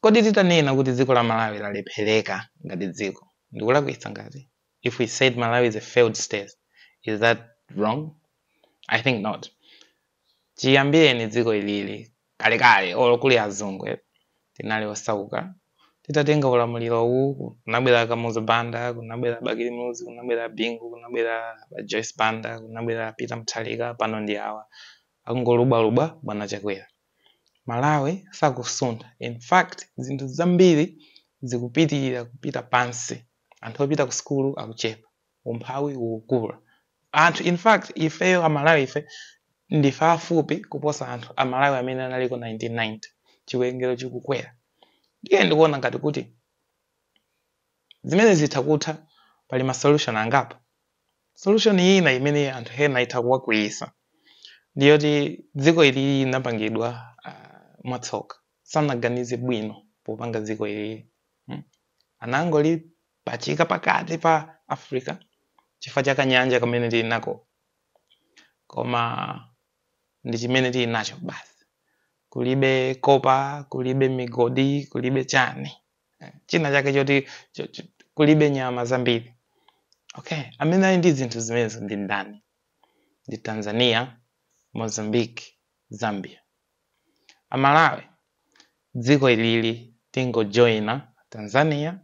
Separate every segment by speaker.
Speaker 1: Kodi titanena kuti dziko la Malawi lalephereka ngati dziko ndikulakwitsa ngati? If we said Malawi is a failed state is that wrong? I think not. Chiyambireni dziko ilili kalekale olo kuli azungu tinali osauka titatenga ulamulirowu kunabwera Kamuzu Banda, kunabwera Bakili Muluzi, kunabwera Bingu, kunabwera Joyce Banda, kunabwera Peter Mutharika pano ndi awa akungolubwalubwa bwana Chakwera. Malawi sakusuntha in fact zinthu zambiri zikupitirira kupita pansi, anthu opita ku sukulu akuchepa, umphawi ukukula, anthu in fact ifeyo a Malawife ndife aafupi kuposa anthu a Malawi amene analiko 1990, chiwerengero chikukwera ndiye ndikuona ngati kuti Zimene zitha kutha, pali ma solution angapo. Solution ina imene anthu ena itha kuwakwiyisa ndi yoti dziko ili linapangidwa mwatsoka, sanaganize bwino popanga dziko ili, anangolipachika pakati pa Africa chifukwa cha ka nyanja kamene tili nako koma ndi chimene tili nacho basi, kulibe copper, kulibe migodi, kulibe chani. eh, china chake choti cho- cho- kulibe nyama zambiri okay amene ali ndi zinthu zimenezo ndi ndani ndi tanzania mozambique zambia amalawi dziko ilili tingojoina tanzania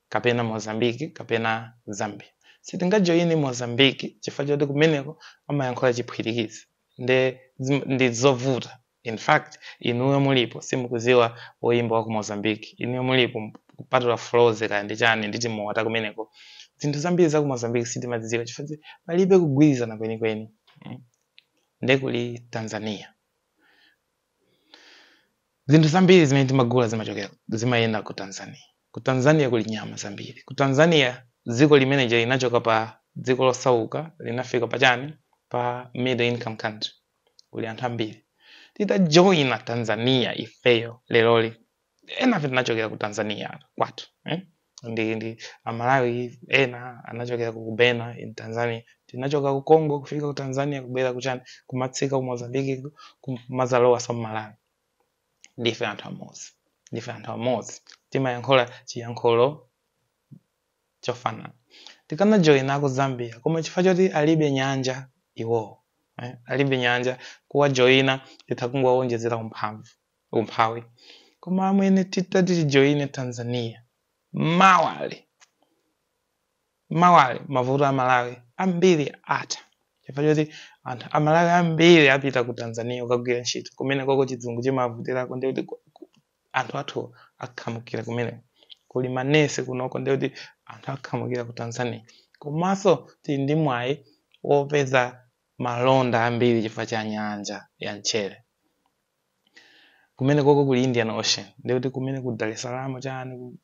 Speaker 1: kapena mozambique kapena zambia sitingajoyine mozambique chifukwa choti kumeneko amayankhula chiphwitikizi nde zim- ndi zovuta In fact inuyo mulipo simukuziwa woyimba waku Mozambique inuyo mulipo kupatula Frozy kaya ndi chani ndi timowa takumeneko zinthu zambiri zaku Mozambique sitimaziziwa chifukwa palibe kugwirizana kwenikweni nde kuli Tanzania zinthu zambiri zimene timagula zimachokera zimayenda ku Tanzania ku Tanzania kuli nyama zambiri ku Tanzania dziko limene linachoka pa dziko losauka linafika pa chani pa middle income country kuli anthu ambiri titajoina tanzania ifeyo leloli enafe tinachokera ku tanzania kwathu eh? ndi, ndi amalawi ena anachokera ku bena in tanzania tinachoka ku congo kufika ku tanzania kubwera kuchani kumatsika ku mozambiki kumazalowa so mmalawi ndife anthu amodzi ndife anthu amodzi timayankhula chiyankhulo chofanana tikanajoina ku zambia koma chifukwa choti alibe nyanja iwowo eh, alibe nyanja kuwajoyina titha kungowawonjezera umphamvu umphawi koma amwene titati tijoine tanzania mawali mawali mavuto a malawi ambiri atha chifukwa choti anthu amalawi ambiri apita ku tanzania kukagwira ntchito kumenekoko chizungu chimavutirako ndikuti anthu athu akhamukira kumene kuli manesi kunoko ndiye kuti anthu akhamukira ku tanzania komanso tili ndi mwayi wopeza malonda ambiri chifukwa cha nyanja ya mchere kumene koko kuli indian ocean ndiye kuti kumene ku dar es salaam chani ku-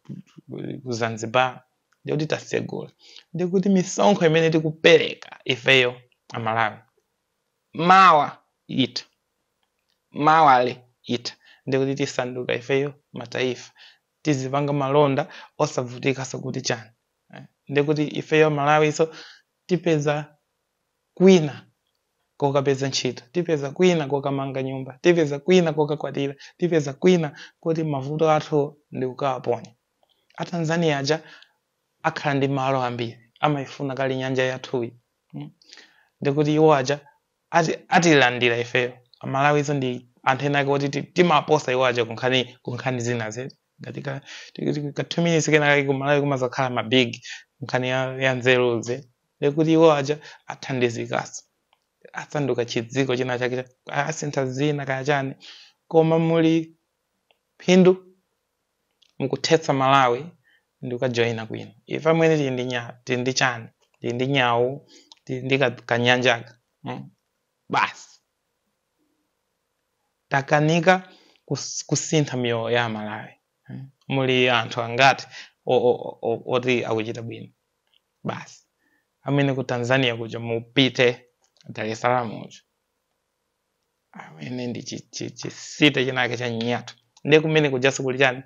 Speaker 1: ku- ku zanzibar ndiye kuti tasegula ndiye kuti misonkho imene tikupereka ifeyo amalawi mawa itha mawali itha ndikuti tisanduka ifeyo mataifa tizipanga malonda osavutikaso kuti chani eh, ndikuti ifeyo malawiso tipeza kwina kokapeza ntchito tipeza kwina kokamanga nyumba tipeza kwina kokakwatira tipeza kwina koti mavuto athu ndikukawaponya atanzania aja akhala ndi malo ambiri amaifuna kale nyanja yathuyi mm. ndikuti iwo aja ati- atilandira ifeyo amalawiso ndi anthu ena ake oti ti- timaposa iwo aja kunkhani kunkhani zina zetu ngati ti- ti- tika- two minutes kena kake kumalawi kumazakhala mabig nkhani ya, ya nzeruzi ndikuti iwo aja athandizikaso asanduka chidziko china chake cha- asintha zina kaya chani koma muli phindu mukuthetsa malawi ndikukajoina kwina ife amwene tili ndi nya tili ndi chani tili ndi nyau tili ndi ka- kanyanjaka mm? basi takanika kus- kusintha miyoyo ya amalawi mm? muli anthu angati o- o- o- oti akuchita bwino basi amwene ku tanzania kuja mupite dar es salaam uja amwene ndi chicity chinake cha nyatwa nde kumene kujaso kuli chani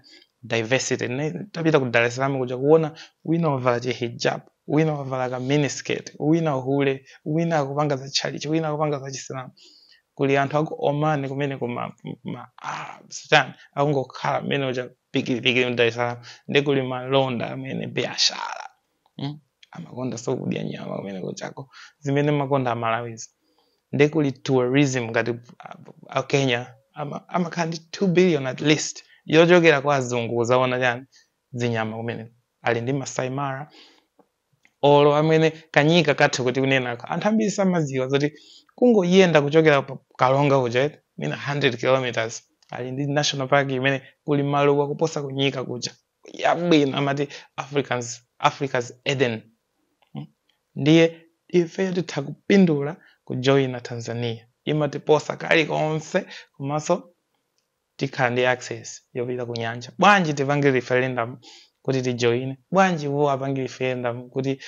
Speaker 1: diversity tapita ku Dar es Salaam kuja kuona wina wavala chi hijab wina wavala ka miniskirt wina hule wina akupanga za chalichi wina akupanga za chisilamu kuli anthu aku Oman kumene kuma ma Arabs chani akungokhala mmene uja pikiri pikiri mu Dar es Salaam nde kuli malonda amwene biashara mm? amakondaso kudya nyama kumene kuja zimene mumakonda amalawizi nde kuli tourism ngati a kenya amakhala ndi 2 billion at least yochokera kwa azungu kuzaona chani zinyama kumeneko ali ndi masai mara olo amwene kanyika kathu kuti kunenako anthu ambiri samaziwa zoti kungoyenda kuchokera pa karonga kuja eti, mwina 100 kilometers ali ndi national park imene kuli maluwa kuposa kunyika kuja yabwino amati africans africa's eden Mm. ndiye ifeyo titakupindula kujoyina tanzania imatiposa kalikonse komanso tikhala ndi access yopita ku nyanja bwanji tipange referendum kuti tijoyine bwanji iwo apange referendum kuti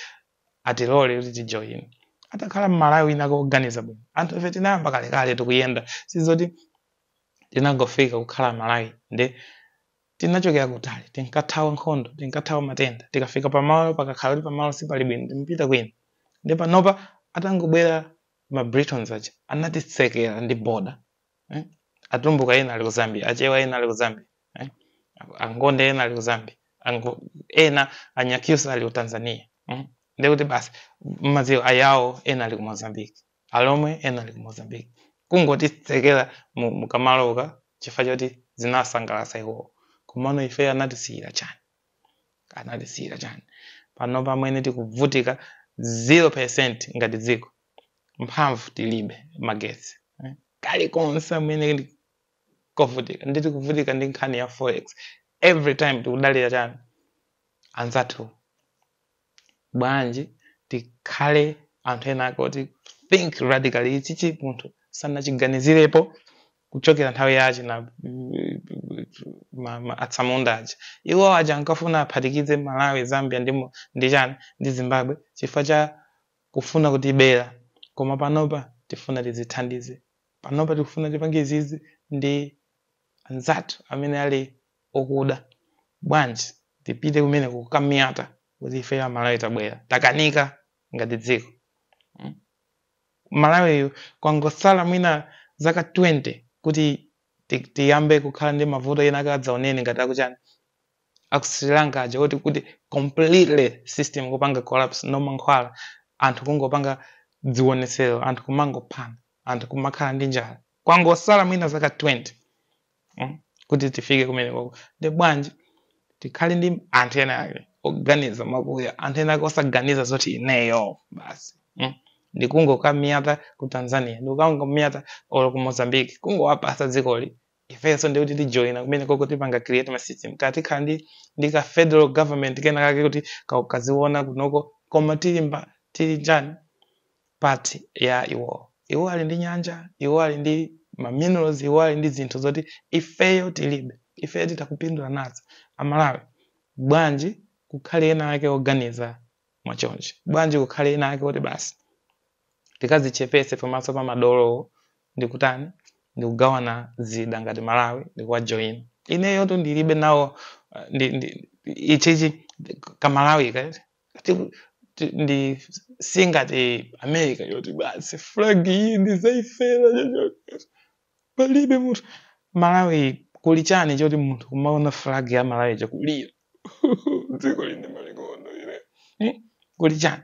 Speaker 1: atilole kuti tijoyine atakhala mmalawi wina woganiza bwino anthu ife tinayamba kalekale tikuyenda sizoti tinangofika kukhala malawi ndi Tinachokera kutali, tinkathawa nkhondo, tinkathawa matenda. Tikafika pamalo, pakakhala kuti pamalo sipali bwino, timapita kwina. Nde panopa atangobwera ma Britons aja, anatitsekera ndi border. Eh? Atumbuka ena ali ku Zambia, Achewa ena ali ku Zambia. Eh? Angonde ena ali ku Zambia. Ango, ena Anyakyusa ali ku Tanzania. Mm? Nde kuti basi mmadziwa ayawo ena ali ku Mozambique. Alomwe ena ali ku Mozambique kungotitsekela mu kamaloka chifukwa choti zinawasangalatsa iwowo. Komano ifeyo anatisiyila chani? Anatisiyila chani? Panopa amwene tikuvutika 0% ngati dziko. Mphamvu tilibe, magetsi. Kalikonse amwene ndi kovutika. Ndiye tikuvutika ndi nkhani ya forex. Every time tikudalira chani? Anzathu. bwanji tikhale anthu ena ake oti think radically ichichi munthu sanachiganizirepo kuchokera nthawi yachina ma- ma- atsamunda aja iwo aja ankafuna aphatikize malawi zambia ndi mo- ndi chani ndi zimbabwe chifukwa cha kufuna kutibera koma panopa tifuna tizithandize panopa tikufuna tipange izizi ndi anzathu amene ali okuda bwanji tipite kumeneko kukamiyata kuti ifeyo amalawi tabwera takanika ngati dziko mm? malawiyu kwangotsala mwina zaka 20 kuti ti- tiyambe kukhala ndi mavuto ena adzaoneni ngati akuchani aku sri lanka aja oti kuti completely system kupanga collapse no mankhwala anthu kungopanga dzionetsero anthu kumangophana anthu kumakhala ndi njala kwangosala mwina zaka 20 mm? kuti tifike kumenekoko nde bwanji tikhale ndi anthu ena ake oganiza mwakuya anthu ena ake osaganiza zoti ineyo basi mm? ndikungokamiyata ku tanzania ndikungokamiyata olo ku mozambique kungowapasa dzikoli ifenso ndikuti tijoina kumenekoko tipanga create ma system kaya tikhala ndi ndi ka federal government kena kake kuti ka- kaziona kunoko koma tili tili chani part ya iwowo. Iwo ali ndi nyanja, iwo ali ndi ma minerals, iwo ali ndi zinthu zoti ifeyo tilibe. Ifeyo titha kupindula nazo. Amalawi, bwanji kukhale ena ake oganiza mwa chonchi? Bwanji kukhale ena ake oti basi tikazichepese pamaso pa madolowo ndikutani ndikugawana zida ngati Malawi ndikuwajoyina. Ineyotu ndilibe nawo ndi, ndi, ichichi kamalawi kati Ngati- ti- ndi singati america yoti basi flag iyi ndizaifera palibe munthu malawi kuli chani choti munthu kumaona flag ya malawi chakulira dziko lili ndi malikono ine Hmm? kuli chani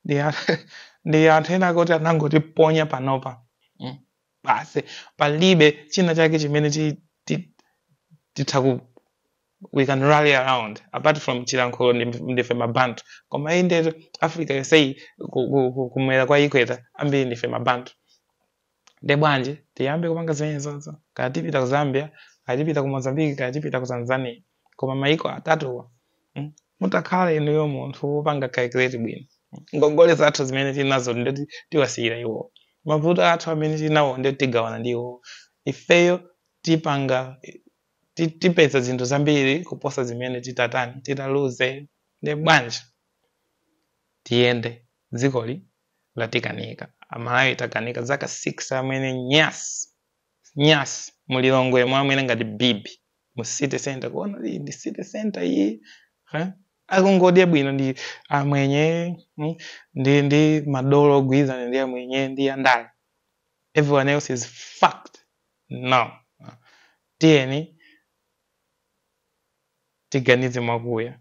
Speaker 1: ndi a- ndi anthu ena akuti anangotiponya panopa Hmm? basi palibe china chake chimene ti- ti- titha ku- we can rally around apart from chilankhulo ndi- ndife mabantu koma iyi ndeti africa yoseyi ku- ku- ku- kumwera kwa ikweta ambiri ndife mabantu nde bwanji tiyambe kupanga zimenezozo kaya tipita ku zambia kaya tipita ku mozambique kaya tipita ku tanzania koma maiko atatuwa mm, mutakhala inuyo munthu wopanga calculate bwino ngongole zathu zimene tinazo ndeti tiwasiyira iwo mavuto athu amene tinawo ndeti tigawana ndi iwo ifeyo tipanga ti- tipeza zinthu zambiri kuposa zimene titatani titaluze nde bwanji tiyende dzikoli latikanika amalawi takanika zaka 6 amwene nyasi nyasi mulilongwemu amwene ngati bibi mu city center kuona iyi ndi city center iyi eh? akungodya bwino ndi amwenye mm, ndi ndi madolo ogwirizana ndi amwenye ndi andale everyone else is fucked Now, tiyeni tiganize mwakuya.